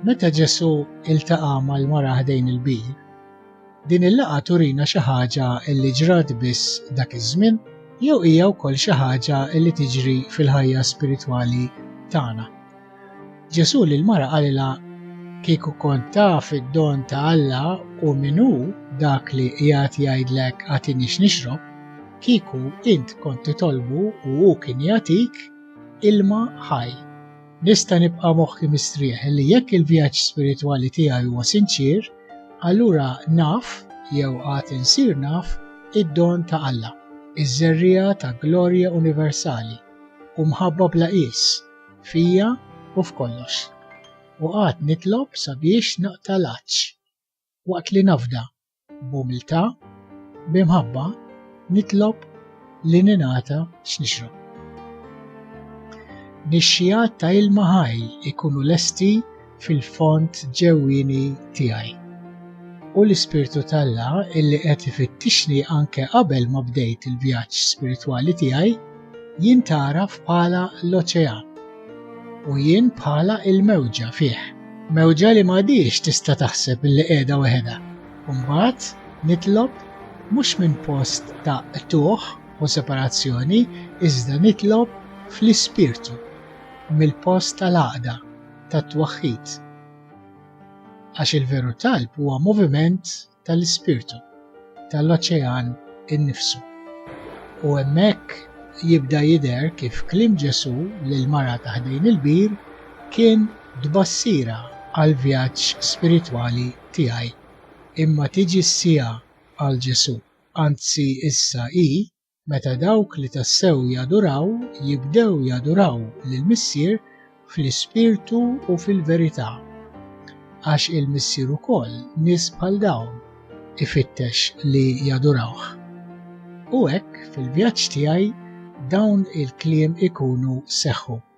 Meta Ġesu iltaqa' mal-mara ħdejn il-bir, din il-laqa turina xi ħaġa li ġrat biss dak iż-żmien jew hija wkoll xi ħaġa li tiġri fil-ħajja spiritwali tagħna. Ġesù lil mara qalilha kieku kont taf id-don ta' Alla u min hu dak li qiegħed jgħidlek agħtini x'nixrob, kieku int kont titolbu u hu kien jagħtik ilma ħaj. Nista' nibqa' moħħi mistrieħ li jekk il-vjaġġ spiritwali tiegħi huwa sinċier, allura naf jew għad insir naf id-don ta' Alla, iż-żerriegħa ta' glorja universali u mħabba bla qies. fija u f'kollox, u qagħadt nitlob sabiex naqta' l-għatx, waqt li nafda, b'umiltà, b'imħabba, nitlob li ningħata x'nixrob. Nixxiegħat ta' ilma ħaj ikunu lesti fil-fond ġewwieni tiegħi. U l-Ispirtu t'Alla illi qed ifittixni anke qabel ma bdejt il-vjaġġ spiritwali tiegħi, jien tagħraf bħala l-oċean. U jien bħala l-mewġa fih. Mewġa li m'għadhiex tista' taħseb illi qiegħda weħedha. U mbagħad nitlob mhux minn post ta' qtugħ u separazzjoni, iżda nitlob fl-Ispirtu, mill-post tal-għaqda, tat-twaħħid. Għax il-veru talb huwa moviment tal-ispirtu, tal-oċean innifsu. U hemmhekk jibda jidher kif kliem Ġesù lil mara ta' ħdejn il-bir kien tbassira għal vjaġġ spiritwali tiegħi. Imma tiġi s-siegħa għal Ġesù, anzi issa hi meta dawk li tassew jaduraw jibdew jaduraw lill-Missier fl-ispirtu u fil-verità. Għax il-Missier ukoll nies bħal dawn ifittex li jadurawh. U hekk, fil-vjaġġ tiegħi, dawn il-kliem ikunu seħħu.